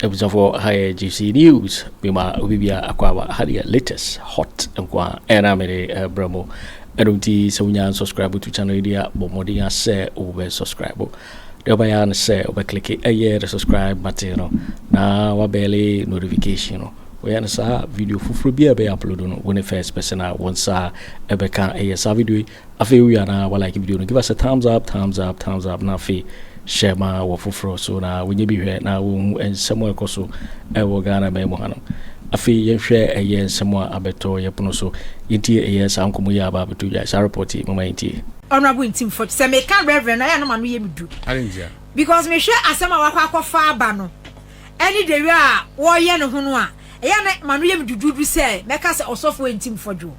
abusuafoɔ ha yɛ gypsy news mema obi bia akɔ aba ha deɛ latest hot nko a ɛna mede brɛ mo ɛno nti sɛ wonya subscribe to channel yi deɛ bɔ mmɔden asɛ wobɛ subscribe Deɛ ɔbɛyɛ ara ne sɛ wobɛklike ɛyɛ the subscribe button no na wabɛle notification no. Woyɛ no saa video foforɔ bi a ɛbɛyɛ upload no, wo ne first person a wo nsa ɛbɛka ɛyɛ saa video yi. Afei wowie a na walike video no, give us a thumbs up, thumbs up, thumbs up na afei hyɛ ma wɔ foforɔ so na wɔnyɛ bi hwɛ na wɔhu nsɛm a ɛkɔ so ɛwɔ Ghana man mu hanom. Afei yɛnhwɛ ɛyɛ nsɛm a abɛtɔ yɛ pono so. Yɛntie ɛyɛ saa nkɔmmɔ yi a aba abɛtɔ dwa, saa report yi, moma yɛntie. Honourable Ntim Fort, sɛ meka Reverend no, ɛyɛ a na m'ano yɛ me du. Adɛn ntia? Because mehwɛ asɛm a wakɔ akɔfa aba no, ɛne the way a wɔreyɛ ne ho no a, ɛyɛ a na m'ano yɛ me duduudu sɛ mɛka sɛ Ɔsɔfoɔ Ntim Fɔdwoɔ.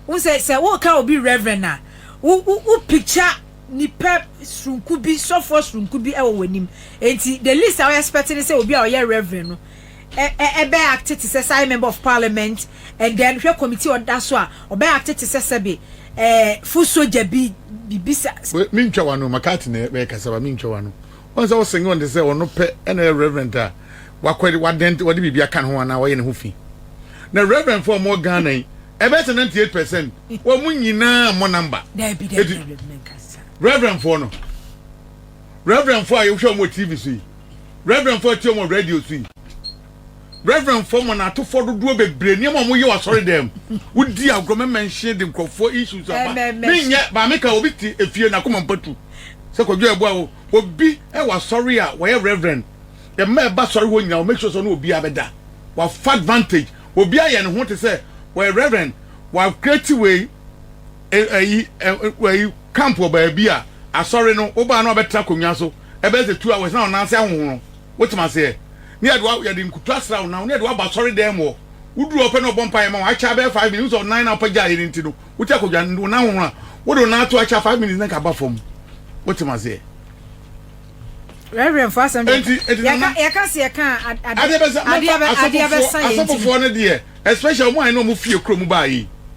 Wohu sɛ, sɛ woreka obi Reverend a, wo, wo, wo picture nipa soronko bi, sɔfoɔ soronko bi wɔ w'anim. Enti, the least a wo expect ne sɛ obi a ɔyɛ Reverend no, ɛbɛ acte te sɛ sɛ ayɛ member of parliament and then hwɛ committee ɔda so a ɔbɛ acte te sɛ sɛbe ɛɛ full soldier bi bibi sa. Mentwa wano makati na ɛbɛ kasa ba mentwa wano wɔn sɛ ɔsɛn wɔn te sɛ ɔno pɛ ɛna yɛ reverend a wakɔ wadɛn wɔde biribi aka ne ho anaa wɔyɛ ne ho fi na reverend fo ɔmo Ghana yi ɛbɛ sɛ 98 percent wɔn nyinaa mmɔ number eti reverend fo no. Reverendfoɔ a yɛhwɛ wɔn wɔ TV so yi, Reverendfoɔ a yɛtie wɔn wɔ radio so yi, Reverendfoɔ mmanatofoɔ dodoɔ bebree nneɛma a wɔyɛ wɔ asɔredan mu, wodi agorɔ mɛmɛnhye de nkurɔfoɔ issues aba. Menyɛ maame ka obi te efie n'akoma mpatu sɛ kwadwo ɛboa wo obi ɛwɔ asɔre a wɔyɛ Reverend ɛma ɛba asɔre hɔ nyinaa wɔ make sure sɛ ɔne obiara bɛda wafa advantage obiara yɛ ne ho te sɛ wɔyɛ Reverend wa create wei ɛyi ɛyi camp wɔ baabi a asɔre no wobaa no abɛtra akonnwa so ɛbɛyɛ sɛ two hours na wɔn nan ase ahohoro wotem aseɛ ne yɛde wa yɛde nkutu asra wɔn nan ne yɛde waba asɔre dan mu hɔ woduru ɔpɛ na ɔbɔ mpa yɛ ma wɔn akyɛ abɛyɛ five minutes wosɛ ɔnan na ɔpɛ gya yɛ ne nti no wote akonnwa no wɔn nan ahohoro a wode wɔn nan ato akyɛ five minutes na nka aba fam wotem aseɛ. Reverend fo asɛm de yɛka sɛ yɛka adeɛ bɛsa yɛ asɔfofoɔ no deɛ especially ɔmo a ɛne ɔmo fie kurom baa yi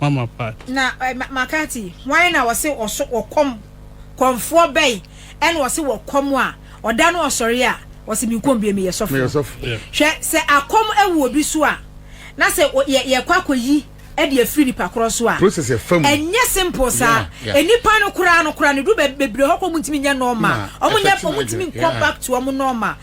Mama Pat. Na McCarthy, hwan na ɔse ɔso ɔkɔm, kɔmfoɔ bɛn ɛna ɔse wɔ kɔm a ɔda no ɔsɔre a ɔse menkɔm bie meyɛ sɔfoɔ? Hwɛ, sɛ akɔm awu obi so a na sɛ yɛkɔ akɔyi de afiri nipa korɔ so a ɛnyɛ simple saa, nnipa no koraa no koraa no duru bebree hɔ koraa ɔmo ntumi nyɛ normal, ɔmo nyɛ, ɔmo ntumi nkɔ back to ɔmo normal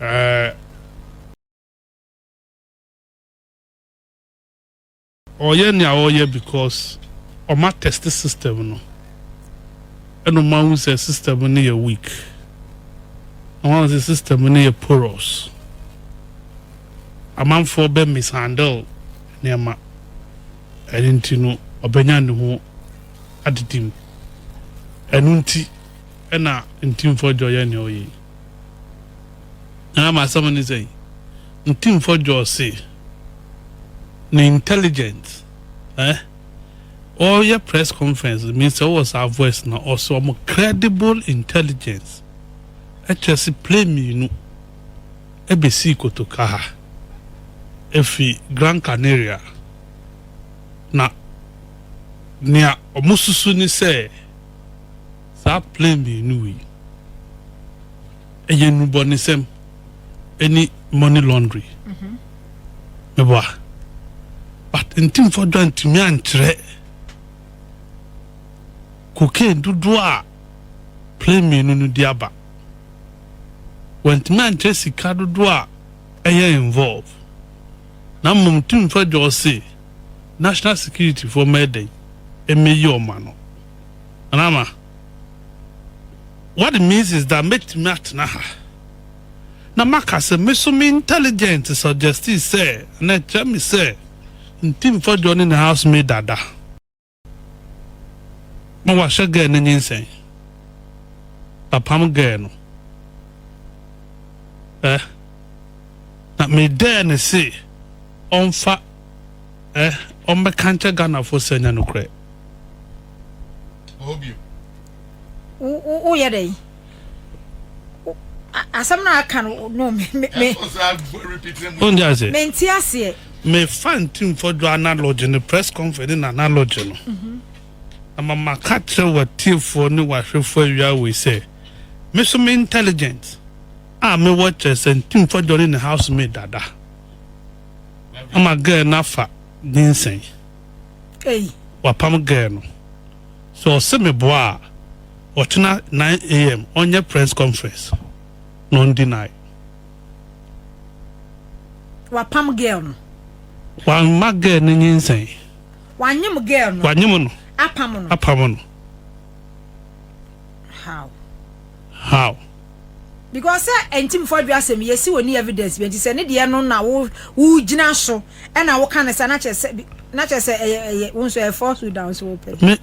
ɛɛ. Ɔyɛ nea ɔyɛ because ɔma test system no ɛna ɔma ahu sɛ system no yɛ weak na wɔn sɛ system no yɛ porous amanfoɔ bɛ mishandle nneɛma ɛno nti no ɔbɛnya ne ho adidi mu ɛno nti ɛna ntimfoɔ dwa ɔyɛ nea ɔyɛ yi. Na ama asɛm ne sɛn? Ntimfo George se ne intelligent eh ɔyɛ press conference no means sɛ ɔwɔ saa voice na ɔse ɔmo credible intelligence ɛkyerɛ se plane mmienu ɛbɛsii kotoka ha ɛfiri Grand Canaria na nea ɔmo susu ne sɛ Saa plane mmienu wei ɛyɛ nnubɔnesɛm ɛne money laundry meboa but ntimfo dwa ntumi ankyerɛ cocaine dodoɔ a plane mmienu no di aba wɔntumi ankyerɛ sika dodoɔ a ɛyɛ involve na mmom ntimfo dwa ɔse national security foɔ mɛdɛn ɛmɛyi ɔma no And ama what it means is that mɛtumi atena ha na maka sɛ me so me intelligent suggesti sɛ anaa ɛkyerɛ me sɛ nti mfa Johnny ne house maid ada ma wahyɛ girl no nyinsɛn apam girl no eh na me dɛɛ ne se ɔmfa eh ɔmbɛka nkyɛ Ghana fo sɛ nyɛ nokorɛ. woyɛ dɛ asɛm no aka no no wonde aseɛ menti aseɛ mefa ntimfɔ dwo analogy ne press conference ne nanalogy no mhm. na mama ka kyerɛ watiefoɔ ne wahwefoɔ awia wei sɛ me so me intelligent a mewɔ kyerɛ sɛ ntimfɔ dwo ne ne house made dada ama girl no afa nyinsɛn Ei. wapam girl no sɛ ɔse meboa a ɔkyena 9am ɔnyɛ press conference na ɔn deny. Wapam girl no. Wamma girl no nyinsɛn. Wanyem girl no. Wanyem no. Apam no. Apam no. How. How? Because sɛ ɛnti mfɔ adwiri asɛm yɛ si wɔ ni evidence bi ɛnti sɛ ne deɛ no na wo wo gyina so ɛna wo ka ne sa na kyɛ sɛ na kyɛ sɛ ɛyɛ ɛyɛ wo nso ɛyɛ falsehood a nso wopɛ. Me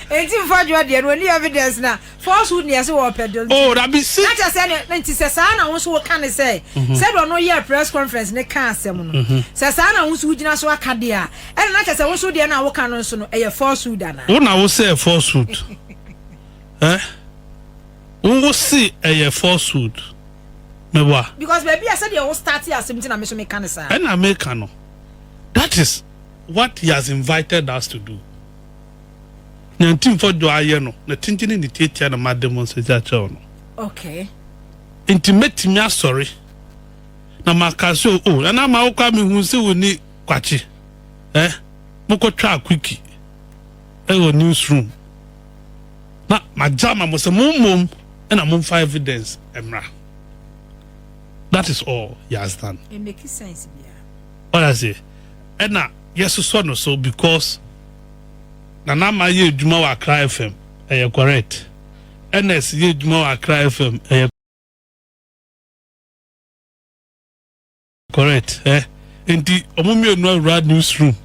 ɛnti mfɔ adwiri deɛ no wɔ ni evidence na. Fɔɔ so nea sɛ wɔpɛ dɔ nti. Oh, Rabi si. Na kyɛ sɛ ne, ne nti sɛ saa na wo nso woka ne sɛ, mhm. sɛdeɛ ɔno yɛɛ press conference ne ka asɛm no, mhm. sɛ saa na wo nso wogyina so aka deɛ a, ɛna na kyɛ sɛ wo nso deɛ no a woka no nso no, ɛyɛ falsehood anaa? Wo na wo sɛ ɛyɛ falsehood. eh? Wo wo se ɛyɛ falsehood. Mewa. Because baabi a sɛdeɛ wo start asɛm nti na me so meka ne saa. Ɛna meka no. That is what he has invited us to do. Nyantin fɔ dwo ayɛ no na tingyini ne tiatia na made mo nsa dzi akyerɛ wo no. Okay. Nti mɛtumi asɔre na maka sɛ o oh, ɛna ma wokɔ a mehu sɛ wo ni kwakye eh, mokɔtwaa kwiki ɛwɔ eh, newsroom na magya ma mo sɛ mo mmom ɛna momfa evidence ɛmmra that is all he has done it makes sense bia ɔyɛ ase ɛna yɛsosɔ no so because Nana Ama yɛ adwuma wɔ Accra FM, ɛyɛ correct. Ernest yɛ adwuma wɔ Accra FM, ɛyɛ correct. Eh, enti ɔmo mmienu awura news room.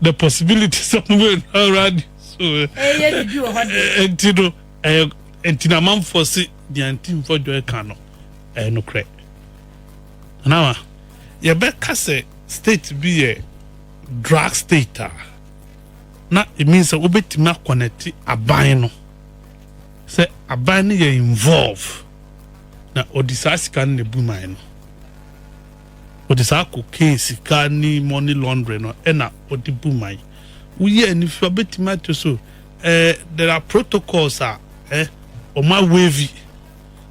The possibility sɛ ɔmo mmienu awura news room. Ɛyɛ bibi wɔ hɔ de. Enti no, ɛyɛ enti na amanfoɔ se deɛ nti mfɔ dwɔ ɛka no, ɛyɛ nokorɛ. Nana Ama, yɛbɛka sɛ state bi yɛ. drug state a na it means sɛ wobɛtumi akɔnɛte aban no sɛ aban no yɛ involve na ɔde saa sika no na ebu man no ɔde saa cocaine sika ne money laundering no ɛna ɔde bu man woyɛ anifi wabɛtumi ato so eh, there are protocols a eh, ɔma wavy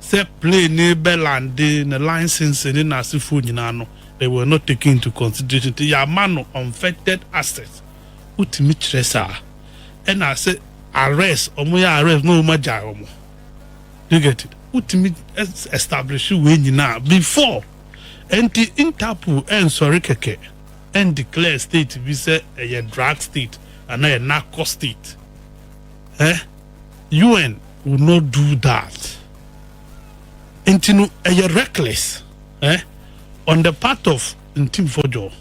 sɛ plane no rebɛ lande no license ne n'asefoɔ nyinaa no they were not taken into consideration nti yɛama no unfettered access wotumi kyerɛ saa ɛna sɛ arrest wɔn yɛ arrest na wɔn agyae wɔn do you get it wotumi establish wei nyinaa before ɛnti interpol ɛnsɔre kɛkɛ ɛn declare state bi sɛ ɛyɛ drug state anaa ɛyɛ narco state eh. UN will not do that nti no ɛyɛ reckless eh, on the part of Ntimfodwo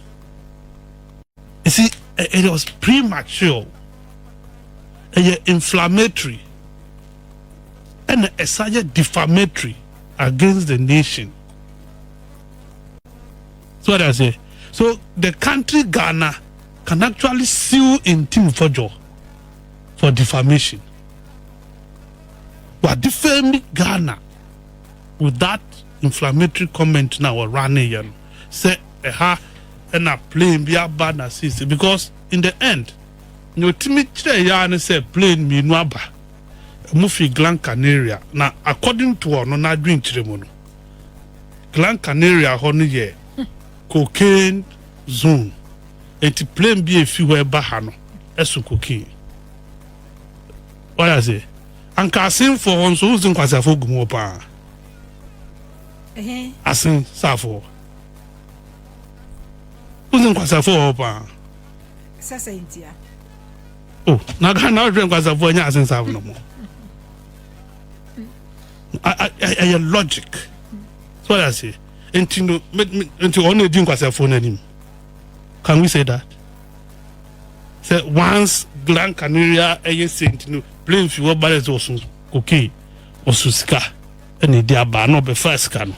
you see eh, it was premature ɛyɛ inflammatory ɛna ɛsa yɛ defamatory against the nation so what I say so the country Ghana can actually sue Ntimfodwo for defamation wa defame Ghana with that inflammatory comment na wɔ running yɛ no sɛ ɛha ɛna plane bi aba na seesei because in the end nea otumi kyerɛ yɛ ara ne sɛ plane mmienu aba ɛmu fi Gran Canaria na according to ɔno n'adwenkyerɛ mu no Gran Canaria hɔ no yɛ cocaine zone. Enti plane bi a efi hɔ reba ha no so cocaine. Wate ase? Anka Asen foɔ hɔ nso, wohu sɛ nkwaseafoɔ gu mu hɔ paa. Asen saafoɔ. Wohu sɛ nkwaseafoɔ wɔ hɔ paa. Sasa ntia. Oh, na Ghana wohwɛ nkwaseafoɔ nyɛ Asen saafo no mo. Ɛyɛ logic. So wate ase? Enti no, enti ɔno edi nkwaseafoɔ no anim. can we say that sɛ once gran canaria ɛyɛ saint no plane fi hɔ ba dɛ sɛ ɔso cocaine ɔso sika ɛna ɛdi aba na ɔbɛfa sika no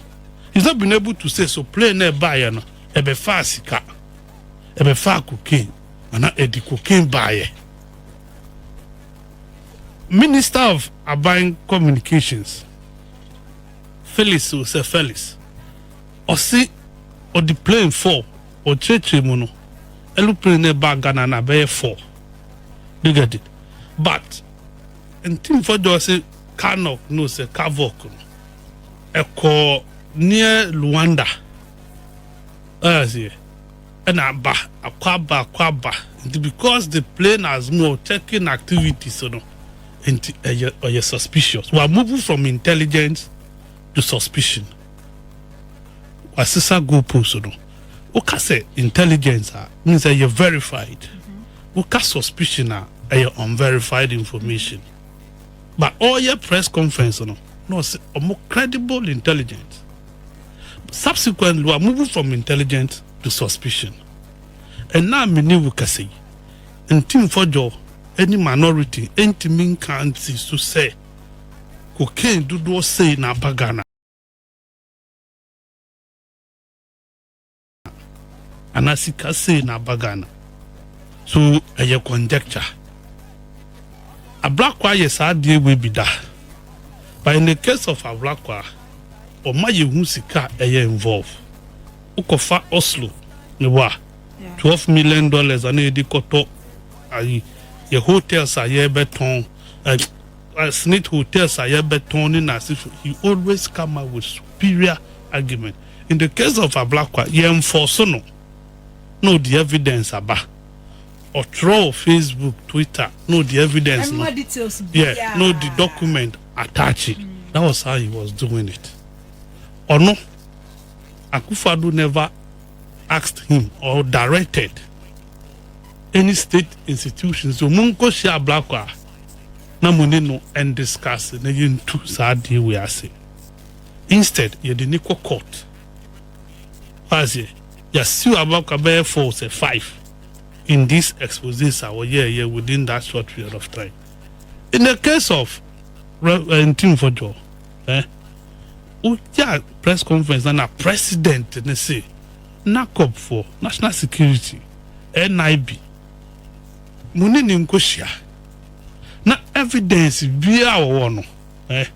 he's not been able to say so plane na ɛbaeɛ no ɛbɛfa sika ɛbɛfa cocaine ana ɛdi cocaine baeɛ minister of aban communications felix osɛ felix Ɔse ɔde plane four ɔkyerɛkyerɛ mu no aeroplane no ɛbaa Ghana no abɛyɛ four bigadi but ntimfɔ dɔ ɔse carnock no ɔsɛ carvock no ɛkɔ near Luanda ɔyɛ aseɛ ɛna aba akɔ aba akɔ aba nti because the plane has more checking activities no nti ɛyɛ ɔyɛ suspicious wa move from intelligence to suspicion. wasesa goal post no woka sɛ intelligence a mean sɛ ɛyɛ verified woka suspicion a ɛyɛ unverified information but ɔyɛ press conference no na ɔsɛ ɔmo credible intelligence subsequently wa move from intelligence to suspicion ɛna mene wo kasa yi nti mfɔdwɔ ɛni minority ɛntumi nka nsi so sɛ cocaine dodoɔ sei na aba Ghana anaa sika sei na aba Ghana so ɛyɛ conjecture Ablakwa yɛ saa adeɛ wei bi da but in the case of Ablakwa ɔma yɛhu sika a ɛyɛ involve wokɔfa Oslo ne wa twelve million dollars a na yɛde kɔtɔ ayi yɛ hotels a yɛbɛtɔn eh, uh, Smith hotels a yɛbɛtɔn ne n'asefo he always come up with superior argument in the case of Ablakwa yɛnfɔso no na ɔde evidence aba ɔtwerɛ wɔ Facebook Twitter na ɔde evidence no yeah na ɔde document attach it that was how he was doing it ɔno Akufo-Addo never asked him or directed any state institution sɛ ɔmo nkɔ hyia ablakɔ a na mo ne no ndiscase na yɛn ntu saa adeɛ wei ase instead yɛde ne kɔ court w'aseɛ yasiw ablakɔ bɛyɛ four sɛ five in this exposes a wɔyɛɛ yɛ within that short period of time in the case of eh, ntimfɔdwɔ. Eh wogyaa press conference na na president no se NACOP foɔ, National Security, NIB, mo ne no nkɔhyia na evidence biaa wɔwɔ no eh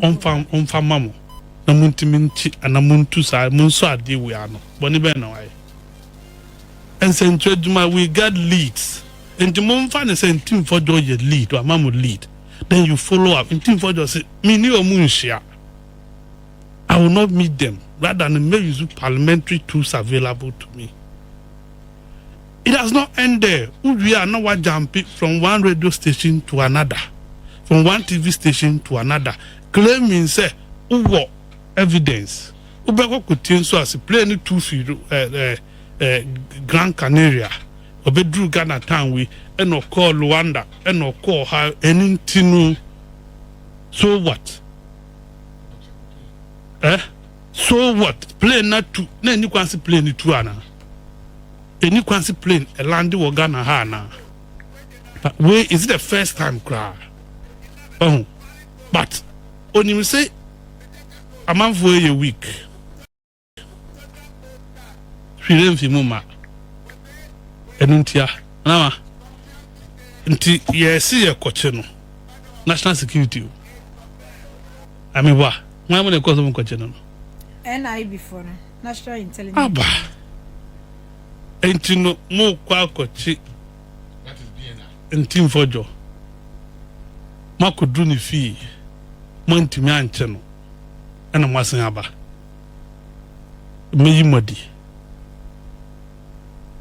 ɔmfa ɔmfa ma mo na montumi nkye ana montu saa monsɔ adeɛ wei ano. Bɔne bɛn na wayɛ? Nsɛnkyerɛ adwuma, we got leads nti momfa no sɛ ntimfɔdwo yɛ lead, wama mo lead. then you follow up nti nfa just say me ne wɔn nhyia I will not meet them rather no mɛ use parliamentary tools available to me it does not end there wowie a na wa jump from one radio station to another from one TV station to another claiming sɛ wowɔ evidence wobɛkɔ kotie nso ase plane no tu fi ɛɛ. Eh, eh, Gran Canaria, ɔbɛduruu Ghana town yi, ɛna ɔkɔɔ Luanda, ɛna ɔkɔɔ ha, ɛno nti no, so what? Eh? So what? Plane no atu, na ɛni kwan se plane no tu anaa? Ɛni kwan se plane ɛlande wɔ Ghana ha anaa? Wei, is it the first time koraa? Ɔho, but, onim se, amanfoɔ yɛ weak. hwi no mfi mu ma ɛno ntia nama nti yɛsi yɛ kɔkye no national security o amewa wọn mu na ɛkɔ so mu kɔkye no no. nib fo no national intelligence. aba nti no mo kɔ akɔkye ntimfɔdwɔ mo akɔduru ne fie mo antumi ankyɛ no ɛna mo asen aba. mɛyi mo adi.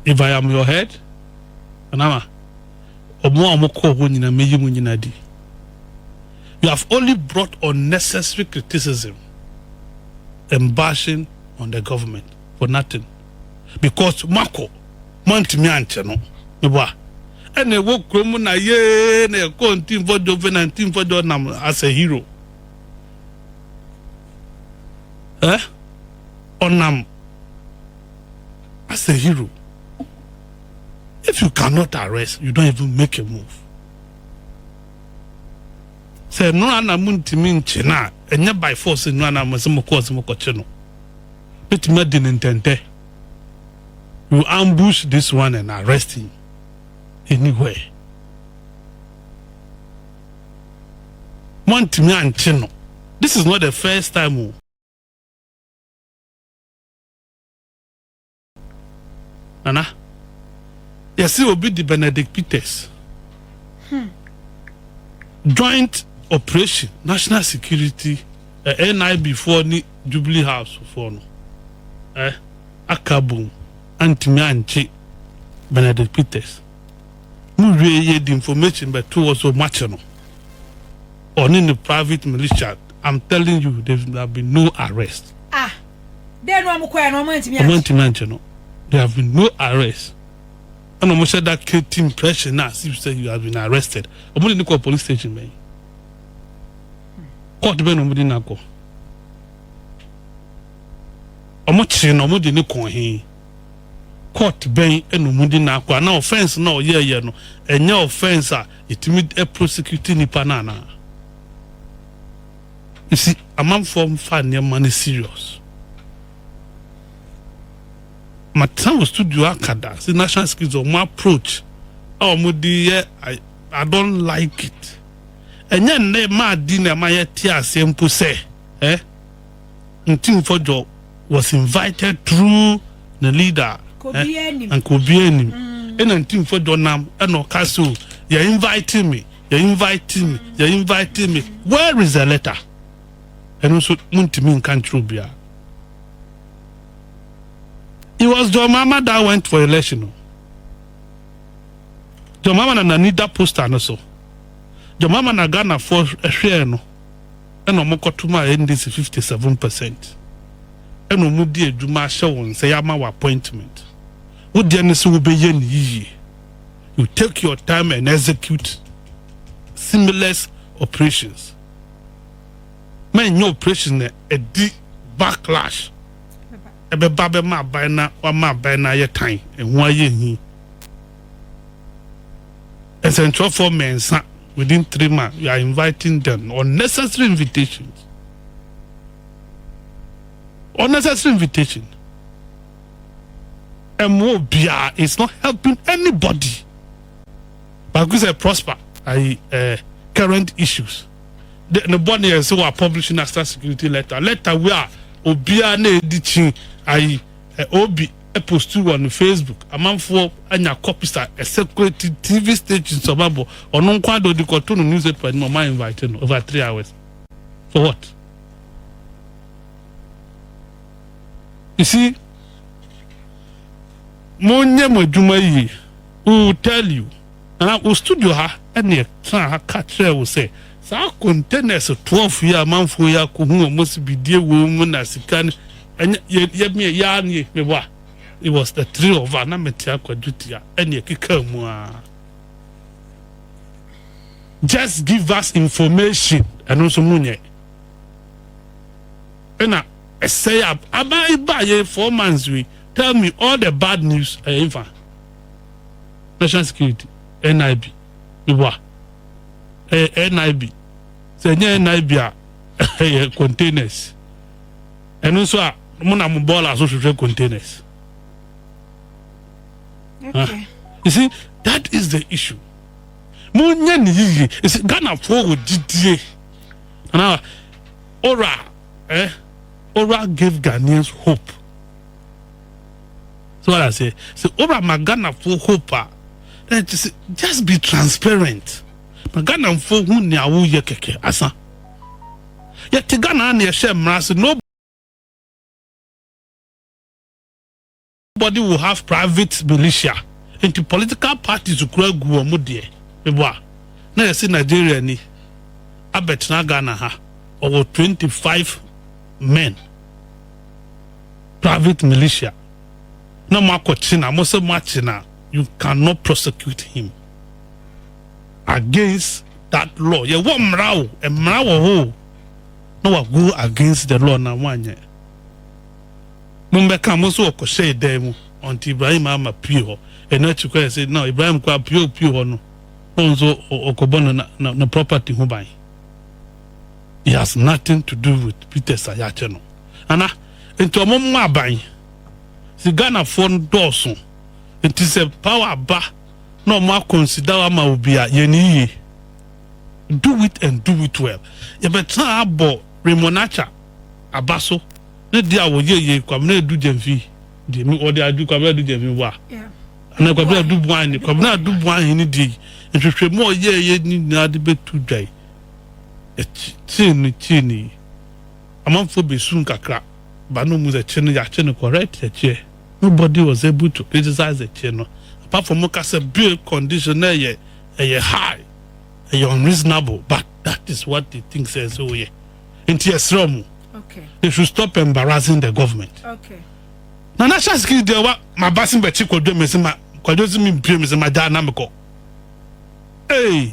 If I am your head, Anana, ɔmo a ɔmo kɔɔ hɔ nyinaa mɛyi mo nyinaa adi. You have only brought unnecessary criticism and bashing on the government for nothing because moakɔ moantumi ankyɛ no mebɔ a ɛna ɛwɔ kurom na yee na ɛkɔɔ ntimfɔdwo fɛ na ntimfɔdwo nam as a hero. eh ɔnam as a hero if you cannot arrest you don't even make a move sɛ nnora na mo ntumi nkye no a ɛnyɛ by force nnora na mo sɛ mo kɔɔ sɛ mo kɔkye no betumi adi ne ntɛntɛ you ambush this one and arrest him anywhere. Moantumi ankye no. This is not the first time o. Nana, yɛse obi de Benedict Peters joint operation national security eh, NIB foɔ ne Jubilee House foɔ no eh, aka abom antumi ankye Benedict Peters. mo wie yɛde information bɛto hɔ so moakye no ɔne ne private militia I'm telling you there have been no arrest ah dɛn na ɔmo kɔɛ na ɔmo antumi ɔmo antumi ankye no there have been no arrest ɛna ɔmo hyɛ that kid team pressure na as if say you have been arrested ɔmo de ne kɔ police station bɛn court bɛn na ɔmo de nakɔ ɔmo kye na ɔmo de ne kɔn he. court bɛn na ɔmo de no akɔ anaa offence no a ɔyɛɛyɛ no ɛnyɛ offence a yɛtumi prosecute nnipa no anaa? You see, amanfoɔ mfa nneɛma no serious. Matena wɔ studio aka da sɛ national security ɔmo approach a ɔmo de yɛ I, I don't like it. Ɛnyɛ nnɛ maa di na ɛma yɛte aseɛ mpo sɛ eh? Ntimfo Djo was invited through ne leader ɛ nka obiara nim ɛna Ntimfo Djo nam ɛna ɔka sɛ o yɛ invite me yɛ invite me yɛ invite me where is the letter ɛno nso montumi nka nkyerɛ obiara it was John Mahama that went for election o John Mahama na n'ani da poster no so John Mahama na Ghanafoɔ hwɛɛ no ɛna ɔmo kɔto maa NDC fifty seven percent ɛna ɔmo de adwuma ahyɛ wo nsa yɛama wo appointment wo deɛ ne sɛ wo bɛ yɛ no yiyie you take your time and execute seamless operations ma ɛnyɛ operation na ɛdi backlash ɛbɛba bɛma aban na wama aban na ayɛ tan ɛho ayɛ hi. nsɛntwerɛfoɔ mmiɛnsa within three months you are inviting them unnecessary invitation unnecessary invitation ɛmmoa obiara it's not helping anybody but because I prosper I uh, current issues the the body is so publish national security letter letter where obiara na edi kyin ayi uh, obi postu wɔ ne Facebook, amanfoɔ anya copies a ɛsɛ quality, TV stations a ɔbɛbɔ, ɔno nko ara deɛ ɔde kɔto no newspaper anim, ɔma invite no over three hours, for what? You see, monyɛ mo adwuma yie, we will tell you. Na wo studio ha neɛ tra ha ka kyerɛ wo sɛ saa containers twelve yi a amanfoɔ yi akɔhu wɔn asibidie wɔ mu na sika no ɛnyɛ yɛ yɛ meɛ yɛ ara nie me wa it was the three of us na mete akwadwo tia ɛneɛ keka mu ara just give us information ɛno nso mu nyɛ ɛna ɛsɛ yɛ aban ba yɛ four months we tell me all the bad news ɛyɛ nfa. National Security, NIB, meboa. Ɛyɛ NIB. Sɛ ɛnyɛ NIB a, ɛyɛ containers. Ɛno nso a, mo na mo bɔɔla so hwehwɛ containers. Okay. You see, that is the issue. Mo nyɛ ne yiye. You see, Ghana fo wɔ gyidie. Ana, ora, eh, ora gave Ghanaians hope. So what I say? So ora ma Ghana fo hope a. Then just just be transparent. Ma Ghana fo hu nea woyɛ kɛkɛ asa. Yɛte Ghana na yɛhyɛ mmara se no body will have private militia. Nti political parties kura gu wɔn deɛ. Mebo a na yɛse Nigeria ni abɛtena Ghana ha ɔwɔ 25 men. private militia na mo akɔ kye no a mo sɛ mo akye no a you can not prosecute him against that law yɛ wɔ mmara o mmara wɔ hɔ o na wa go against the law na wɔn anyɛ mo mbɛ ka mo so wɔ kɔhyɛ ɛdan mu ɔnti Ibrahim ama pie hɔ ɛna akyi kɔ yɛ sɛ na Ibrahim kɔ apue opue hɔ no na wɔn nso ɔkɔbɔ no na no property ho ban he has nothing to do with Peter Sayakyɛ no. ana nti ɔmo mmɔ aban si ghanafoɔ no dɔɔso nti sɛ power ba na ɔmo akɔnsida ama obi a yɛ ne yie do it and do it well yɛbɛtena ha abɔ remonacha aba so ne deɛ a wɔyɛ yɛ kwabena adu gyamfi deɛ mi wɔde adu kwabena adu gyamfi wa ana kwabena adu buan ne kwabena adu buan hene deɛ yi nhwehwɛ mu ɔyɛ yɛ ne nyinaa de bɛtu dwan ɛkyi tie ne tie ne yi Amanfoɔ bɛsum kakra but na ɔmu sɛ kye no yɛakye no correct ɛkyeɛ nobody was able to criticize the kye no apart from mo ka sɛ bail condition no ɛyɛ ɛyɛ high ɛyɛ unreasonable but that is what they think sɛ ɛsɛ ɔyɛ nti yɛsrɛ ɔmo they should stop embarrassing the government Nana Hyɛ Asekiri deɛ wa ma ba se bɛkye kwadwo me se ma kwadwo se me mpie me se ma gyaa na mekɔ ee. Hey.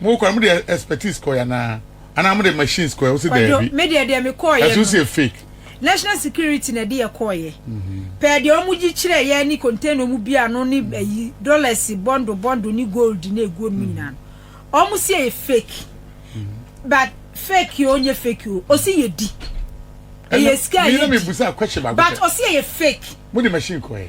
Mo kɔ no mo de expertise kɔɛ anaa anaa mo de machines kɔɛ wo se daabi. Kwadwo me deɛ deɛ me kɔɔyɛ no. Ɛso se fake. National security na ɛde yɛ kɔɔyɛ. Pɛɛ deɛ ɔmo gye kyerɛ yɛ ne container ɔmo bi ano ne ayi dollars bundle bundle ne gold ne ɛgu ɔmo nyinaa no ɔmo se ɛyɛ fake but fake o nye fake o ɔsi yɛ di ɛyɛ sika yɛ di but ɔsi ɛyɛ fake. Mo de machine kɔɛ.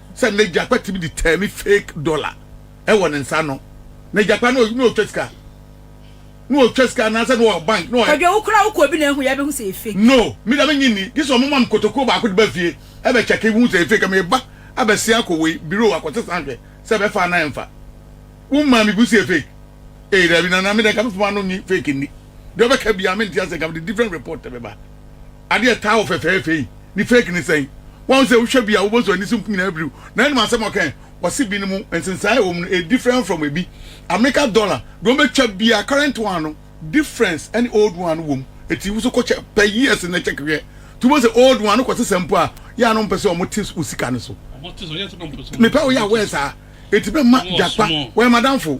sɛ n'agyapa tumi de tɛɛne fake dollar ɛwɔ ne nsa no n'agyapa no na ɔtwa sika na ɔtwa sika anaasɛ na ɔwɔ bank na ɔyɛ. Kwadwo wo koraa wokɔ obi na ehu yɛ bɛhu sɛ yɛ fake. No me deɛ me nye nni gye sɛ ɔmo ma me kotokuo baako de ba fie ɛbɛ kyɛke hu sɛ yɛ fake me ba abɛsea akɔ wei bureau akɔ sesa nhwɛ sɛ ɛbɛfa anaa ɛnfa wo maa me bu sɛ yɛ fake ee daabi nana me deɛ nka me fam ano nye fake nni deɛ ɔbɛka biaa mente aseɛ nka me de different report ɛbɛba. Ade a ɛtaa wɔ fɛfɛɛfɛ yi ne fake ne sɛn? Woahu sɛ wohwɛ bi a wobɔ so ani so nko nyinaa biriw na ɛnam asɛm a ɔka ɛ? Wɔse binom nsensae a ɛwɔ mu no ɛyɛ different from ɛbi. America dollar deɛ wɔbɛtwa biara current one no difference ɛne old one no wɔ mu ɛti woso kɔ kyɛ pɛ years nnɛ check hwɛ nti wobɛhu sɛ old one no kɔ sesa mpo a yɛ a na wɔmpɛ sɛ wɔte wo sika no so. Mepɛ woyɛ aware saa ɛti bɛmma gyakpa wɔyɛ m'adamfo.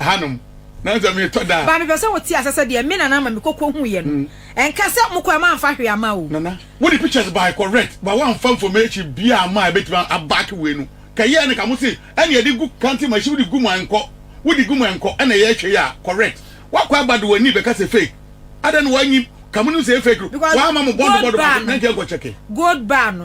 hanom. Na sɛ metɔ da a. Ba mepɛ sɛ wote ase sɛ deɛ me nana ma mekɔ kɔhuiɛ no. Ɛnka sɛ mokɔ a moamfa hwee ama o. Nana, wode pictures bae correct but woamfa information biaa amma a ɛbɛtumi a back wei no. Ka ɛyɛɛ no ka mo se ɛneɛ de gu counting machine wode gu mu a ɛnkɔ. Wode gu mu a ɛnkɔ ɛna ɛyɛ hwɛ yi a correct. Woakɔ aba de w'ani bɛka sɛ fake. Adɛn na woanyi ka monim sɛ ɛyɛ fake no? Because Woamma mo bɔdo bɔdo baako na ɛnti ɛnkɔ check. gold bar no.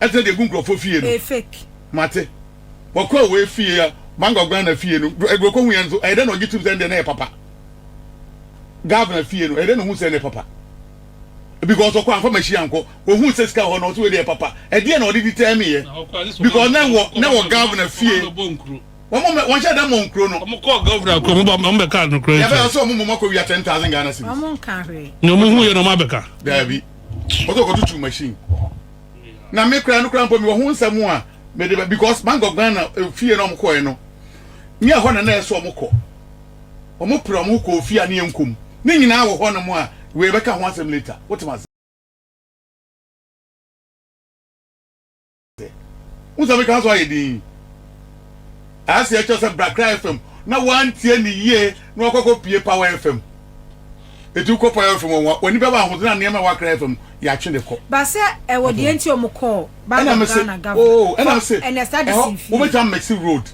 ɛtena deɛ egu nkurɔfoɔ fie no. Ɛyɛ fake. Mate. Wɔkɔ a wɔyɛ fie a Bangor Ghana fie no do ɛduro kɔhu yɛ nso ɛyɛ dɛ na ɔgye tum sɛ ɛndeɛ na ɛyɛ papa. Governor fie no ɛyɛ dɛ na ɔhu sɛ ɛnɛ papa. Because ɔkɔ anfa machine ankɔ ɔhu sɛ sika hɔ na ɔsɛ wei deɛ papa. Ɛdeɛ na ɔde determine yɛ. Because na wɔ na wɔ governor fie. Wɔn mɛ wɔn hyɛ dɛ mɔ nkuro no. Wɔn kɔ governor kuro wɔn ba wɔn bɛ ka anokora nkyɛn. Yɛ bɛ ɔsɛ wɔn mɔ mɔ kɔ wia ten thousand Ghana cedis. Wɔn nka hwee. Nyɛ wɔn hu yɛ na wɔn abɛka. Daabi. ɔsɛ ɔkɔtutu machine na me kura no kura mpo mewɔ ho nsɛm a mede ba because bank of ghana eh, fie na ɔmokɔɛ no ne ɛhɔ na na ɛsɛ ɔmokɔ ɔmopere ɔmo kɔ ofie a ne yɛnkom ne nyinaa wɔ hɔ no mu a wei bɛka ho asɛm later wotem ase Wohu sɛ meka so ayɛ dinn? Ase ɛkyerɛ sɛ bra kra FM na wantie ne yie na wakɔkɔ pie Power FM. Eti wokɔ Power FM a w'ani bɛba ahoɔden a nneɛma ɛwɔ Akra FM yɛatwe de kɔ. Ba sɛ ɛwɔ deɛ nti wɔn kɔɔ Bank of Ghana Governor oh, hɔ ɛnɛ saa de si nfie. Wobɛtumi amɛsi road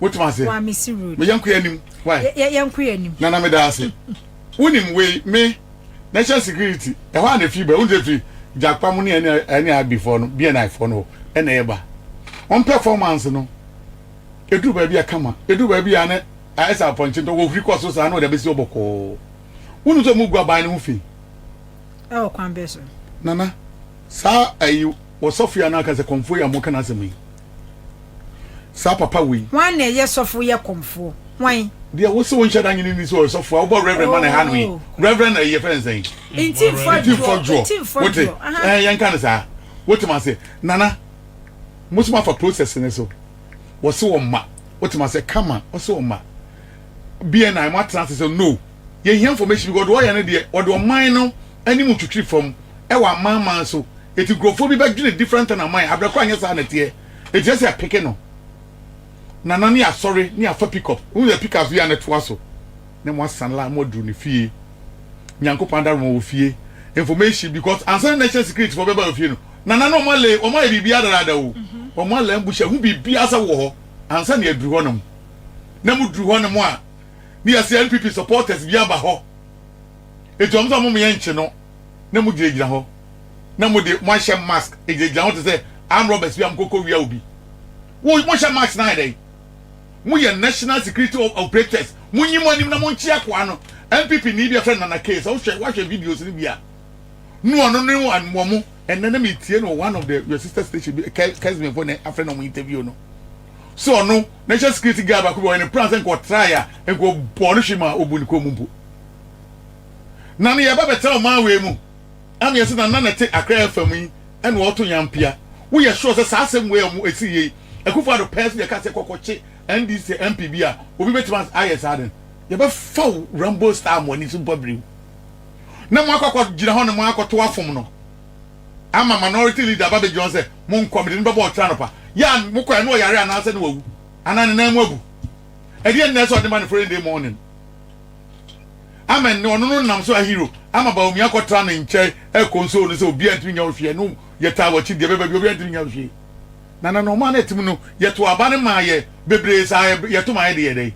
wotumi aseɛ. Wamɛsi road. Meyɛ nkoyɛ anim. Why? Yɛ yɛ nkoyɛ anim. Nana meda ase. Wonim wei, me, national security, ɛhɔ a na ɛfiri ba, wonim sɛ ɛfiri Gyakpa mu ne NIRB foɔ no, BNI foɔ no hɔ ɛna ɛba. Wɔn performance no, ɛduru baabi a kama, ɛduru baabi a na ayɛ sɛ apɔnkye ntɔ, wɔhuri kɔ so saa na wɔde abɛsi hɔ bɔkɔɔ. Wonim sɛ wɔgu aban no ho fi? Ɛwɔ kwan bɛn so? Nana, saa ayi, ɔsɔfo yi a na aka sɛ Kɔmfoɔ yi a moka n'asɛm yi, Saa papa wei. Hwan na ɛyɛ sɔfo yɛ kɔmfoɔ? Hwan? Deɛ wo se wo nhyɛ da nye ne ni sɛ ɔyɛ sɔfo a wobɔ reverend ma ne ha no yi. Oh. Reverend ɛyɛ fɛn sɛn? Ntimfoɔ Ntimfoɔ adwoɔ. Ntimfoɔ Wote? adwoɔ. Aha. Ɛɛ yɛnka no saa. Wote ma se nana mo so mafa process ne so. Wɔse wɔn ma. Wote ma se kama ɔse wɔn ma. BNI mo atena ase sɛ no. Yɛhia information because deɛ ɔyɛ no deɛ ɔde ɔman no anim twitwiri fam wɔ amanaman so eti nkurɔfoɔ bi bɛdwene different thing aman abrɛ koro anyɛ saa na teɛ eti ɛsɛ yɛ peke no nana ne asɔre ne afa pick up wohu yɛ pick up so yɛ ne toa so ne mo asan la mo aduru ne fie nyankopɔn adaroma wɔ fie information because ansa na national security fɔ bɛba wɔ fie no nana no ɔma le ɔma yɛ biribi adarada o ɔma la mbuhyɛ ho biribi asa wɔ hɔ ansa na aduru hɔ nom na mo duru hɔ nom a ne yɛ sɛ NPP supporters bi aba hɔ Enti wɔn sɛ wɔn yɛ nkye no na mo gyina gyina hɔ na mo de mo ahyɛ mask gyina gyina hɔ te sɛ arm robbers bi a mo koko wia obi. Wo mo hyɛ mask na ayɛ dɛn? Mo yɛ national security operators. Mo nyi mo anim na mo nkye akoa no. NPP ni bi a fɛ Nana Kay sɛ wo hwɛ wa hwɛ videos ni bi a no ɔno ne wo an mo mo ɛnɛ na me tie no one of the your sister station bi Kesmin fo ne afɛ na mo interview no so ɔno national security guard ba ko bi ɔyɛ ne plan sɛ nko ɔtraa ya nko bɔ no hwe ma obu ne kɔn mu mpo. Na ne yɛba bɛtena ɔman wei mu ɛna yɛse na nana te akra ɛfam yi ɛna ɔto yan pia woyɛ sure sɛ saa asɛm wei a ɔmo ɛsii yei Akufo Addo pɛɛ so deɛ ɛka sɛ kɔkɔ kye NDC MP bi a obi bɛtumi ayɛ saa den yɛbɛ fa wo Rambo style mo ani so mpo abiri wo na mo akɔ akɔ gyina hɔ na mo akɔ to afom no ama minority leader aba bɛgyina hɔ sɛ mo nkɔ mede no bɛbɔ ɔkyena nɔpa yɛ a mo kɔ ɛna ɔyare anaasɛ na wawu anaa ne nan mu abu ɛdeɛ nnɛ sɛ ɔde ma no following day morning ama nnɛ ɔno no nam so ahiro ama Bawumia akɔtra ne nkyɛn ɛkɔnsoo no sɛ obiara ntumi nya wo hwee no yɛtaa wakyi deɛ bɛba bi obiara ntumi nya wo hwee na na na ɔmaa no atim no yɛto aba no maa yɛ bebree saa yɛto maa yɛde yɛ dɛn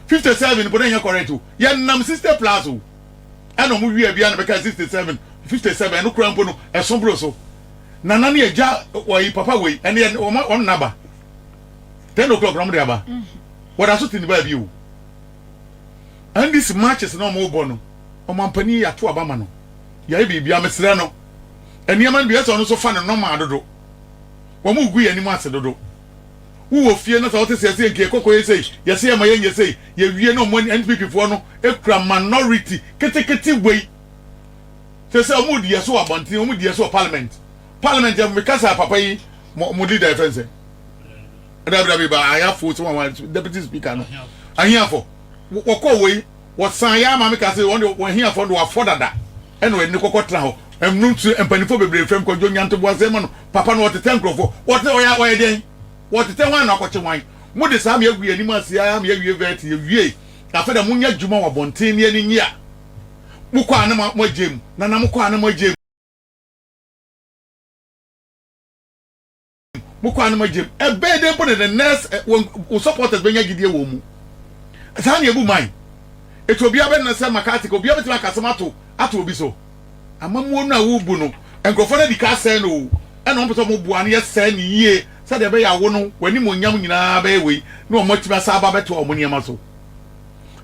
57 mpo na ɛnyɛ correct o yɛnam 60 plus o ɛna ɔmo wie abia na bɛka 67 57 ɛno koraa mpo no ɛso boro so nana ne agya wɔyi papa wei ɛne wɔn naba ten o'clock na wɔn de aba wɔda so te ne baabi o NDC marches na ɔmo bɔ no ɔmanpanin yɛ ato aba ma no yɛayɛ biribiara mesrɛ no nneɛma no bi ɛsɛ ɔno nso fa no normal dodo wɔn gu yɛ anim ase dodo wowɔ fie na sɛ wote sɛ ɛsɛ nkeɛ kɔkɔ yɛ sei yɛsɛ yɛ ma yɛ nyɛ sei yɛ wie na ɔmo ani NPP foɔ no ekura minority ketekete wei sɛ sɛ ɔmo di yɛ so wɔ abɔnten ɔmo di yɛ so wɔ parliament parliament yɛ mekasa papa yi mo mo leader yɛ fɛn sɛ dabidabi ba ahiafo sɛ wɔn wɔn deputy speaker no ahiafo wɔkɔ wei wɔsan yɛ ama mi ka sɛ wɔn de wɔn ahiafo de wɔafɔ dada ɛna wɔn ani kɔkɔ tena hɔ ɛmu nso mpanimfoɔ bebree fam kɔdwo nyantobo ase ma no papa no wɔtetɛ nkurɔfoɔ wɔte wɔyɛ wɔyɛ dɛn wɔtetɛ wɔn na wɔakɔkye wɔn mo de saa mi agu yɛn anim ase ya mi awie vɛt yɛ wie afei na mo nya adwuma wɔ abɔnten ne ani nyia mo kɔ a na mo agye mu na na mo kɔ a na mo agye mu. mo kwan no magyam ɛbɛyɛ dɛ mpo na the nurse eh, wɔn wo supporters bɛnya gyidie wɔ mu saa na ebu man etu obiara bɛ na sɛ makati ka obiara bɛtumi akasɛm ato ato obi so amamuo no a wobu no nkurɔfoɔ no adi ka asɛe no o ɛna wɔn pɛ sɛ wɔn boa no yɛ sɛe no yie sɛdeɛ ɛbɛyɛ awo no wɔanim onyam nyinaa bɛyɛ wei na wɔn atumi asa aba bɛtoa wɔn nneɛma so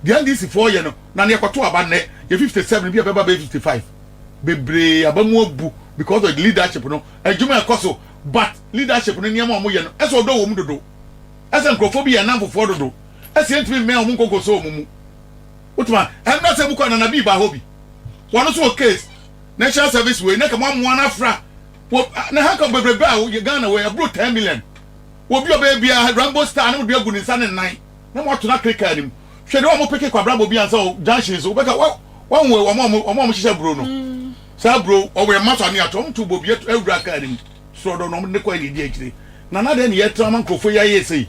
deɛ ndc foɔ yɛ no na ne yɛkɔto aba nnɛ yɛ 57 bi a bɛba bɛyɛ 55 bebree aba mu abu because of the leadership no adwuma ɛkɔ so But leadership no nneɛma a wɔyɛ no, ɛsɛ ɔdɔ wɔ mu dodo. Ɛsɛ nkurɔfoɔ bi yɛ nnamfofoɔ dodo. Ɛsɛ yɛntumi mmɛn wɔn nkonkoso wɔn mu. Wotumi a, ɛmmerɛ sɛ mokɔ a Nana Bii baa hɔ bi. Wɔn nso wɔ case. National service wei, na ka moamoa no afra. Wɔ, na handcuff bebrebe a yɛ Ghana wɔ yi, ɛboro ten million. Wɔ bi a ɔbɛyɛ biara, Rambo style, na mode agu ne nsa ne nnan, na moato no akere kaa no mu. Hwɛ deɛ wɔn a wɔpeke kwabrabɔ bi ansa wɔ junctions, wobɛka, wa, wahu wɔn a wɔn a wɔhyehyɛ buro no. Saa bro, ɔwɔ yɛn mma so ane ato, ɔnto bobi ɛto awura car no mu, soro ɔdɔ no ɔmo de kɔ ɛna ɛdi akyire, Nana dɛn na yɛtra ama nkorɔfoɔ yi ayɛ sei,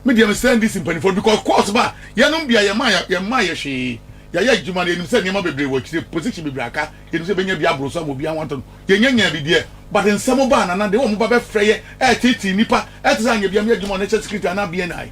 me deɛ mesrɛ NDC mpaninfoɔ no because course ba a yɛnom bia yɛmaa yɛmmaa yɛ hwee, yɛayɛ adwuma no yɛnim sɛ nneɛma bebree wɔ akyire, position bebree aka, yɛnim sɛ yɛbɛnya bi aboro so ama obiara ho atɔ no, yɛnya nyaa bi deɛ but nsɛm ba a Nana de, wɔn ba bɛfrɛ yɛ ɛɛtetee nnipa ɛte sɛ anyɛ bi a me adwuma a ɔno ɛhyɛ security anaa BNI.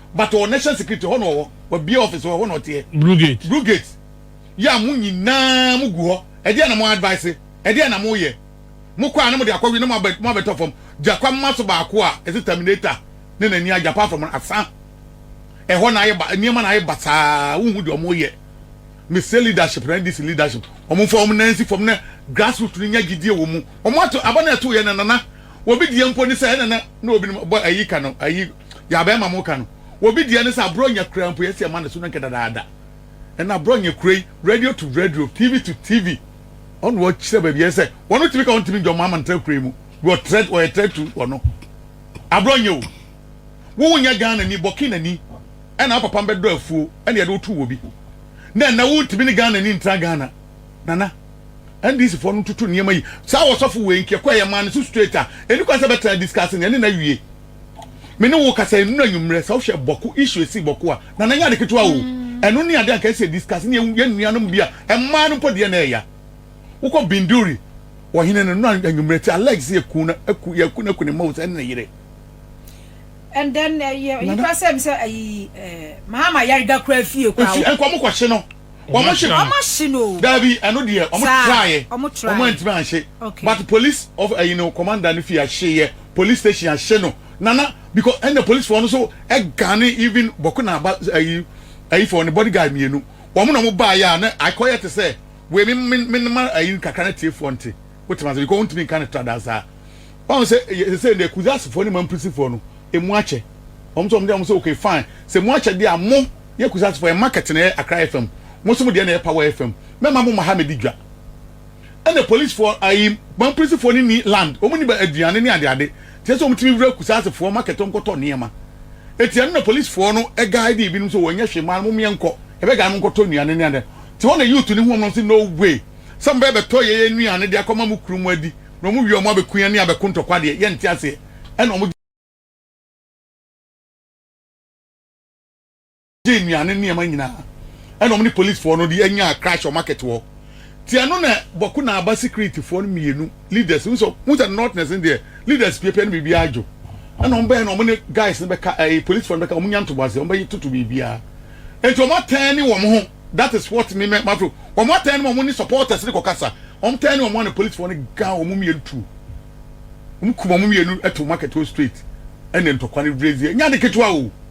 But ɔwɔ national security hɔ na ɔwɔ wabie office wɔ hɔ na ɔteɛ. Brugate. Brugate yɛ a mo nyinaa mo gu hɔ ɛdeɛn na mo advice ɛdeɛn na mo yɛ mo kɔ a na mo de akɔ wie na mo abɛtɔ fam gyakwa mma so baako a ɛsɛ terminator ne n'ani agya apart from asa ɛhɔ na ayɛ ba nneɛma na ayɛ ba saa wo hu deɛ ɔmo yɛ me sɛ leadership na ndc leadership ɔmo nfa ɔmo nan si fam na grassroots no nya gyidie wɔ mu ɔmo ato aba na ɛto yɛ na nana Obi deɛ mpo ne sɛ ɛna na na obinom bɔ ayi ka no ayi yabɛn ma mo ka no. Obi deɛ ne sɛ aborɔnya kura mpo yɛsi ɛma ne so no nkɛ dadaada. Ɛna aborɔnya kura yi radio to radio, TV to TV ɔno ɔkyerɛ baabi yɛ sɛ wɔn tumi ka wɔn tumi dwom ama ntra kura yi mu. Wɔ trɛ wɔyɛ trɛ tu wɔn aborɔnya o. Wo nyɛ Ghana ni bɔke na ni ɛna apapa mbɛdɔ afuo ɛna yɛde wo to wɔ bi. Na ɛnɛ wo ntumi ne Ghana ni ntra Ghana nana. NDC foɔ no ntoto nneɛma yi saa ɔsɔfo wei nti ɛkɔ ɛyɛ maa no so straight a ɛni kwan sɛ bɛtena discuss no ɛne na wie me ne wo kasa ɛnunu anwummerɛ sɛ wohwɛ bɔko issue ɛsi bɔko a na nanyɛ ade ketewa o ɛno ne ade anka ɛsɛ discuss ne yɛ nuanom bi a ɛmaa no mpo deɛ na ɛya wokɔ binduri ɔhene no no anwummerɛ ti alleged sɛ yɛku no aku yɛku no aku ne mma o sɛ ɛne ne yere and then ɛyɛ eh, yi kora sɛ m sɛ ayi eh, mahama yare da koraa fie koraa nkɔmokɔhye no wɔn ahye no wɔn ahye no daabi ɛno deɛ wɔn traeɛ wɔn antumi anhye but police of ɛyi no commander no fi ahye yɛ police station ahye no nana because ɛna police wɔn nso ɛgane even bɔko na aba ɛyi ɛyi fɔ ne bodyguard mmienu wɔn na wɔn baa yɛ a na akɔyɛ te sɛ wei me me me ma ɛyi kakra na tie fɔ nte wotem ase because wɔn ntumi nka ne tra daa saa wɔn sɛ sɛ sɛ ne kuzasifo ne mampirisifoɔ no emu akyɛ wɔn nso wɔn de wɔn sɛ okay fine sɛ emu akyɛ deɛ a mo. Yɛ kusase fo yɛ market na yɛ akra fm mo nso mo deɛ na yɛ power fm mɛma mo ma ha mɛdi dwa ɛna police foɔ ayi ban polisi foɔ ne ni land wɔn ni ba aduane ne ade ade tiɛ sɛ wɔn timi wura kusase foɔ market wɔn kɔtɔ nneɛma eti ɛno na police foɔ no ɛgae de ebinom sɛ wɔn nyɛ hwee maa no mo mmiɛ nkɔ ɛbɛ gae mo nkɔtɔ nnuane ne ade ti hɔ na youth ne ho wɔn nom sɛ no way sɛ mo bɛ bɛ tɔ yɛ yɛ nnuane de akɔma mo kuru mo adi na wɔn wie wɔn abɛ kun yɛ ne abɛ ko ntɔkwa deɛ yɛ nti aseɛ ɛna wɔn gye nnuan ne nneɛma nyinaa ɛna wɔn ne polisfoɔ no de anyaa crash wɔ market hɔ ti ɛno na bɔko na aba securityfoɔ no mmienu leaders no nso mu sɛ northness no deɛ leaders piapia no biribiara adwo ɛna wɔn bɛyɛ na wɔn ne guys no bɛka ɛyɛ polisfoɔ no bɛka wɔn nya ntoboase wɔn bɛyɛ toto biribiara nti wɔn atɛn ne wɔn ho that is what me mɛ mafro wɔn atɛn ne wɔn ne supporters ne kɔkasa wɔn tɛn ne wɔn a na polisfoɔ no gan wɔn mmienu tuo wɔn kum wɔn mmienu ɛto market hɔ straight ɛna ntɔkwa no brɛzie nya de ketewa o.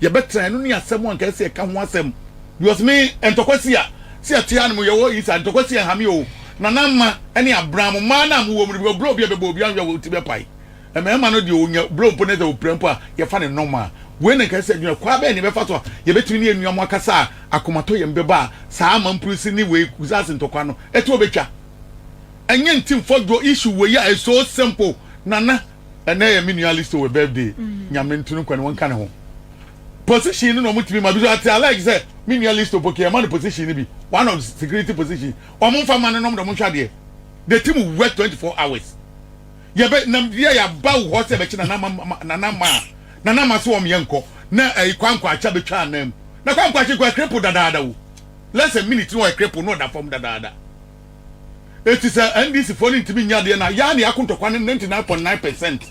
Yɛbɛtra ɛno ne asɛm a anka ɛsɛ sɛ yɛka ho asɛm. Because me ntɔkwa si a sɛ yɛte ha no mu yɛwɔ yi saa ntɔkwa si ɛnhame oo Nana mma ɛne abran mo mmaa no a mowɔ mu no because bro bi a ɛbɛbɔ obi anhwɛ a wo ti bɛpae Mmarima no deɛ ɔnya bro mpo na sɛ ɔpira mpo a yɛfa no normal Wei na anka ɛsɛ sɛ yɛdwene ho Kwan bɛn na yɛbɛfa so a yɛbɛtumi ne yɛn nuanom akasa a akomatɔyam bɛba a saa amampurusi ne wei kusase ntɔkwa no ɛtoɔ bɛtwa Ɛnyɛ nti mfɔdwoɔ issue wei a it's so simple Nana ɛnɛ yɛ me nua listo wɔ birthday mm-hmm. nyame ntunu nkwa ne wɔnka ne ho position no na ɔmo tumi ma bi so ate alike sɛ me nua listo poke ɛma no position no bi one of security position ɔmo nfa ma no nom de ɔmo nhwɛ adeɛ the team work twenty four hours yɛbɛ nam yɛ yaba wɔ hɔ sɛ ɛbɛkyi nana ma nana ma nana ma so wɔn yɛ nkɔ na ɛyi kwankwa akyɛ bɛtwa anam na kwankwa akyɛ kɔ ɛkrepo dadaada o less a minute na ɔyɛ krepo na ɔda fam dadaada. Eti sɛ NDC foɔ no ntumi nyɛ adeɛ no a, yɛa na yɛako ntɔkwa no 99.9 percent.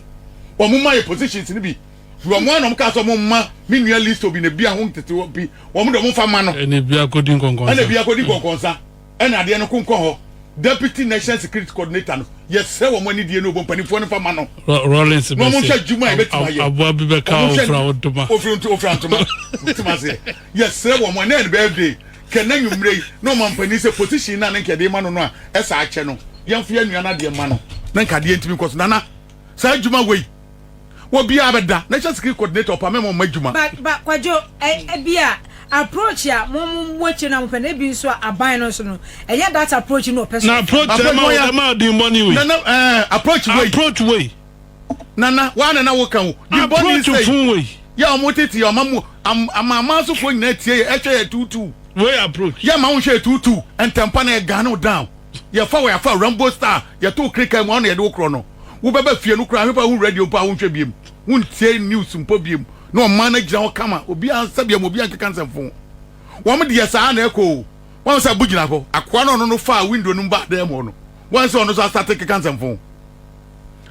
Wɔn ma yɛ positions no bi. Firi wɔn a na wɔn kaa sɛ wɔn mma me nua Listo bi na bia ho ntete hɔ pi, wɔn de wɔn mfa mma no. Ɛna bia kɔdi nkɔnkɔnsa. Ɛna bia kɔdi nkɔnkɔnsa. Ɛna adeɛ no ko nkɔ hɔ. Deputy National Security Coordinator no, yɛsrɛ wɔn anidie no ɔbɔ mpaninfoɔ no mfa mma no. Rawlings bɛse, wɔn hwɛ adwuma a yɛbɛtumi ayɛ. Aboa bi bɛka ofira ntoma. Ofira ntoma. Wotim aseɛ. Yɛsrɛ wɔn, ɛnɛ yɛ ne birthday. Kɛ n'anwummere yi na ɔmanpanin sɛ position no a na nka yɛde rema no no a, ɛsɛ akyɛ no. Yɛmfa yɛn nua no adeɛ mma no na nka adeɛ ntumi nkɔ so. Nana, saa adwuma wei, obiara bɛda na ɛhyɛ security coordinator ɔpɛ a mɛma ɔmma adwuma. Ba, ba, Kwadwo, ɛ, ebia approach a mo, mo, mo akyire no a mopɛ no, ebi nso a aban no nso no, ɛnyɛ that approach no na ɔpɛ sɛ ɔfa. Na approach a ɛma, ɛma adwemmɔne wei. Nana, ɛɛ, approach wei. Approach wei. nana wa nana wo kan o di bɔne nsɛyi yɛ ɔmo tete yɛ ɔma mu amaama asofoɔ nyinaa tie yɛ ɛhwɛ yɛ tuutuu wei approach yɛ ma wo nhwɛ yɛ tuutuu ntɛmpa na yɛ gun no down yɛ fa wɔ yɛ afa rambo star yɛ to kirika mu ɔno yɛ de wo korɔ no wo bɛba fie no koraa hwepa wo radio mpo a wo nhwɛ biem wo ntie news mpo biem na ɔmaa no agyina hɔ kama obi ansa biem obi ankeka nsɛmfo wɔn deɛ saa na ɛkɔ o wɔn sɛ abo gyina hɔ akoa no ɔno no faa window no mu baa dan mu hɔ no wɔn sɛ ɔno nso asate keka nsɛmfo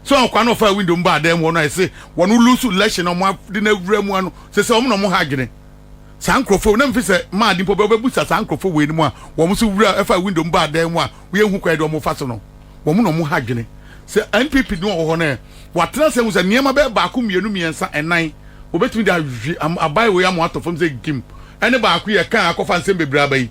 sɛ wɔn kwan na wɔfa window mu ba adan mu hɔ no ayɛ sɛ wɔn lose election na wɔn ade no awura mu ano sɛ sɛ wɔn na wɔn ha adwene saa nkurɔfoɔ na mfi sɛ maa ade mpo bɛbusa saa nkurɔfoɔ wei no mu a wɔn nso wura ɛfa window mu ba adan mu a wɔyɛ hu kwan de wɔn fa so no wɔn na wɔn ha adwene sɛ NPP no wɔ hɔ no wɔatena sɛ hu sɛ nneɛma bɛyɛ baako mmienu mmiɛnsa ɛnan wɔbɛtumi de abae wei ama ato fam sɛ gim ɛne baako yɛ kan akɔfa nsɛm bebree aba yi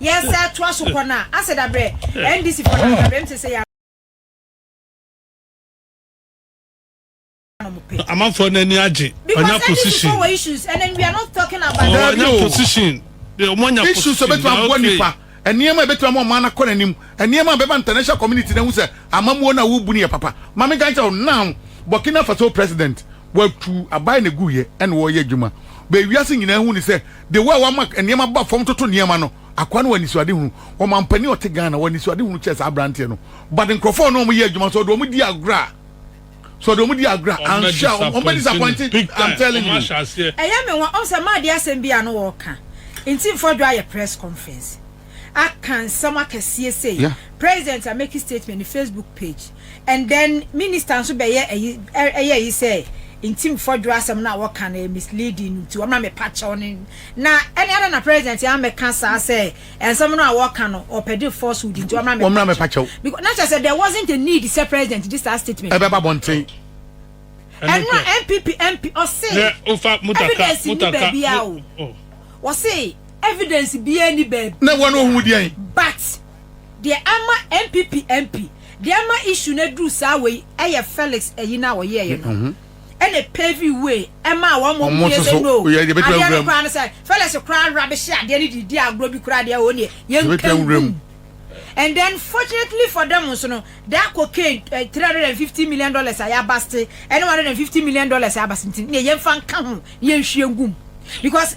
Yɛ sɛ toa so kɔ na asɛ da brɛ NDC foɔ na da brɛ mte sɛ yɛ amanfoɔ no ani agye ɔnya position ɔnya position issues ɛbɛtumi aboa nipa nneɛma ɛbɛtumi ama ɔman akɔ n'anim nneɛma bɛma international community na hu sɛ amamuo na wobu no yɛ papa maame nka nkyɛw now Burkina Faso president watu aban na gu yɛ ɛna wɔyɛ adwuma bɛwiase nyinaa hu ne sɛ The way a wama nneɛma ba fam toto nneɛma no, akoa no wɔ anisoadehunu. Ɔmampanin a ɔte Ghana wɔ anisoadehunu kyɛɛ saa aberanteɛ no. But nkurɔfoɔ a na wɔyɛ adwuma, sɛ ɔde wɔn di agorɔ a, sɛ ɔde wɔn di agorɔ a, anhwɛ a, wɔn bɛ disappoint no big time, I'm telling you. Ɛyɛ me nwa, ɔn sɛ maa de asɛm bi a na wɔɔka nti nfɔdwo ayɛ press conference. aka nsɛm akɛseɛ sei yeah. president a make statement ne facebook page and then minister nso bɛyɛ ɛyi ɛyɛ ɛyi sɛ nti mfɔdwo asɛm no a wɔka no misleading nti wɔma mepa kyɛw no na ɛne ana na president yɛ amɛka saa sɛ nsɛm no a wɔka no ɔpɛde falsehood nti wɔma mepa kyɛw because na kyerɛ sɛ there wasn't a need sɛ president de saa statement ɛbɛba bɔnten ɛno a npp mp ɔse evidence ni baabi a o wɔse Evidence biaa nni baabi. Na ɛwɔ no ohuu deɛn? But deɛ ama NPP MP deɛ ama issue no aduru saa wei ɛyɛ Felix ayi no a ɔyɛɛyɛ no ɛna ɛpavee way ɛmaa wɔn ma ɔmo yɛ sɛ no adeɛ no koraa no sɛ Felix koraa rubbish adeɛ no de di agorɔ bi koraa deɛ wɔn deɛ yɛnka ngum and then fortunately for them nso no that cocaine uh, eh, 350 million dollars a yɛabaste ɛne 150 million dollars a yɛabaste nti ne yɛmfa nka ho ne yɛnhwie ngum because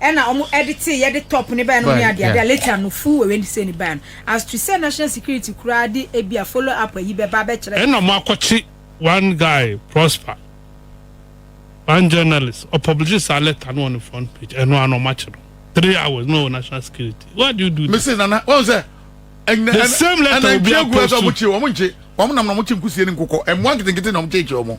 Ɛna ɔmo ɛditee yɛde top ne baeɛ nom ne adeade a later no full Wednesday ne baeɛ no as to sɛ national security koraa de ebia follow up ayi bɛba abɛkyerɛ sɛ. Ɛna ɔmo akɔkye one guy Prosper one journalist ɔpublishe saa letter no wɔ ne front page ɛno ara na ɔmo akye no three hours na ɔwɔ national security why do you do this. Mese Nana wahu sɛ ɛnyinɛ the same letter obi a post to. Ɛna nkyia gu ɛsɛ ɔmo kye ɔmo nkye ɔmo nam na ɔmo kye nkusie ne nkokɔ ɛmoa nketenkete na ɔmo kyeekyee ɔmo.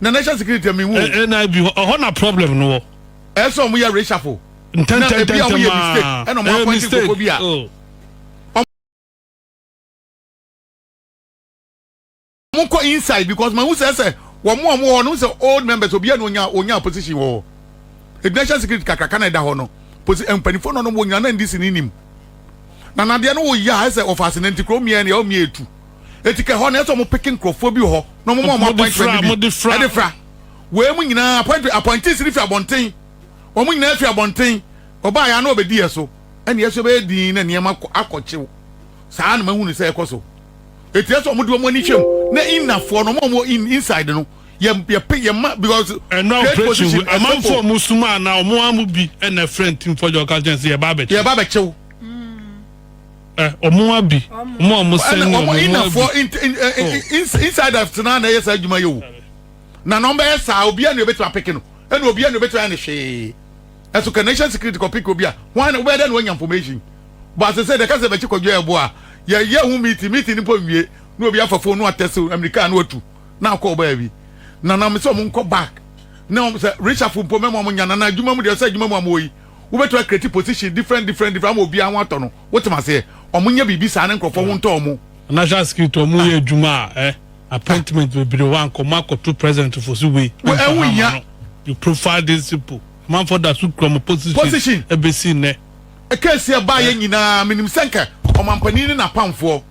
na national security a mehu. Eh, eh, na ebi hɔ ɛhɔ na problem no wɔ. ɛsɛ ɔmo yɛ reshuffle. ntɛntɛntɛntɛm aa ɛna ɔmo yɛ mistake ɛna ɔmo apɔnti nkoko bi a. Oh. ɔmo kɔ inside because ma n sɛ sɛ wɔn a wɔn wɔ hɔ no n sɛ old members obiara na onya onya position wɔ hɔ ebi national security kakraka na ɛda hɔ no posi mpanyinfoɔ no wɔn nyinaa na ndc ne nim na nadeɛ no wɔ yia ɛsɛ ɔfaase na nti kurom yɛn deɛ ɔmo yɛ etu. eti kɛ hɔ no ɛsɛ ɔmo peke nkorɔfoɔ bi wɔ hɔ na ɔmo ma ɔmo apɔintmɛnt no bi ɛde fra. Wei mu nyinaa apɔintmɛnt apɔintees no fi abɔnten, ɔmo nyinaa fi abɔnten, ɔbaa yɛ a na ɔbɛdi yɛ so ɛna yɛ nso yɛ bɛyɛ dinn na nneɛma akɔ akɔ kyew saa na mahunu sɛ ɛkɔ so eti ɛsɛ ɔmo de ɔmo ani hwɛ mu na inner foɔ no ɔmo a ɔmo wɔ in inside no yɛ yɛ pe yɛ ma because Ɛnna great operation position wei, ɛsɛ amanfoɔ a po wɔn sum a na wɔn ara mu bi na ɛfrɛ ntimfoɔ gya wɔka kyerɛ no sɛ yɛreba abɛkye. yɛreba abɛkyew. Eh, ɔmo abi. Ɔmo a ɔmo sɛn ne ɔmo emu abi. Ɔmo inafoɔ insiders tena na ɛyɛ saa adwuma yɛ o. Na na ɔmo bɛyɛ saa obiara na obetumi apeke no. Ɛna obiara na obetumi ayɛ ne hwee. Ɛso ka nation security kɔ peke obi a wɔn na wɔbɛyɛ dɛ na wɔnya information. Bɔ asese de kasa bɛkyi kɔdwa ɛbo a yɛ yɛ ho meeting meeting nipa nwie na obi afa phone no atɛse Amerika na watu na akɔ ɔbaa bi. Na na ɔmo sɛ ɔmo nkɔ back na ɔmo sɛ reshuffle mpo mɛma ɔmo nya na na adwuma mu deɛ ɔsɛ adwuma mu a mo wɔ yi. wo bɛtumi a create position different different different ama obiara ho atɔ no wote me aseɛ ɔmo nyɛ biribi saa ne nkorɔfoɔ ho ntɔ ɔmo. National security ɔmo yɛ ah. adwuma a eh, appointment bebree hɔ ankɔ ɔmo akɔto president fo so wei ɛho hia no you profile these people amanfoɔ da so kura ɔmo position ɛbɛsi nnɛ. ɛkɛsi ɛbaa yɛ eh. nyinaa menim sɛ nka ɔmampanin ne n'apamfoɔ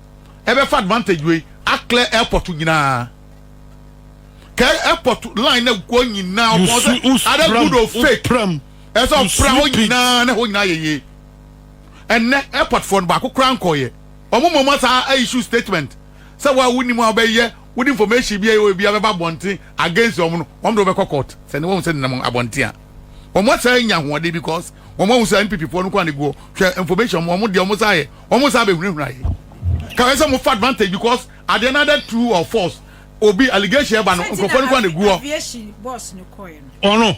ɛbɛfa advantage wei aclear airport nyinaa kɛ airport line na guo nyinaa ɔpɔn sɛ ada good of fake. Ɛsɛ sɛ ɔfra hɔ nyinaa na hɔ nyinaa yɛ yie. Ɛnnɛ airport foɔ no baako koraa nkɔɔyɛ. Wɔn mmom asaa a issue statement sɛ wo a wonni mu a wobɛyɛ wode information bi a ɛwɔ baabi a bɛba abɔnten against wɔn no wɔn de wobɛkɔ court. Sɛnea wɔahu sɛ nenam abɔnten a wɔn asaa anya ahoɔden because wɔn ahu sɛ NPP foɔ no nko ara na egu hɔ. Hwɛ information wɔn wɔn deɛ wɔn saa yɛ wɔn saa bɛhunahuna yɛ. Ka ɛsɛ sɛ mofa advantage because at the another true or false obi allegation ɛba no nkurɔfoɔ no nko ara na egu hɔ. Ɔno.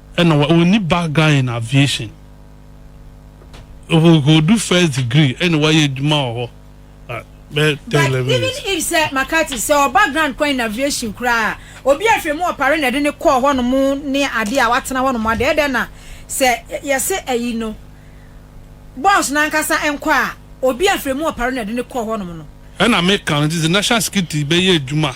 ɛna wa ɔnni background in aviation ɔhɔdu first degree ɛna wayɛ adwuma wɔ hɔ ah, bɛyɛ ten eleven years. but even if sɛ makati sɛ ɔ background kwan in aviation koraa obi ahwɛ mu ɔpare na ɛde ne kɔɔ hɔ nom ne adeɛ a watena hɔ nom adeɛ ɛdɛ na sɛ yɛse ayi no bɔs n'ankasa nkɔ a obi ahwɛ mu ɔpare na ɛde ne kɔɔ hɔ nom no. ɛna meka no nti sɛ national security bɛyɛ adwuma.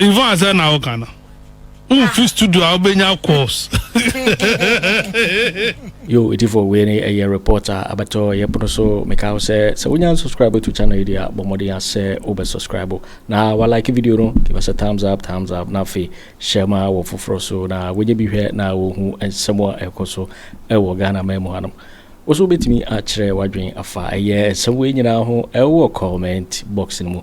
Yvonne asɛm na woka no womfi studio a wobɛnya calls yo ɛtifo wei ne ɛyɛ report a abɛtɔ ɛyɛ pono so meka wo sɛ sɛ wonya nsubscribe to channel yi deɛ a bɔ mmɔden a sɛ wobɛ subscribe na walike video no give us a thumbs up thumbs up na afei hyɛ ma wɔ foforɔ so na wonya bi hwɛ na wɔhu nsɛm a ɛkɔ so ɛwɔ ghana ma mu hanom wo so wobɛtumi akyerɛ wadwen afa ɛyɛ nsɛm wei nyinaa ho ɛwɔ comment box no mu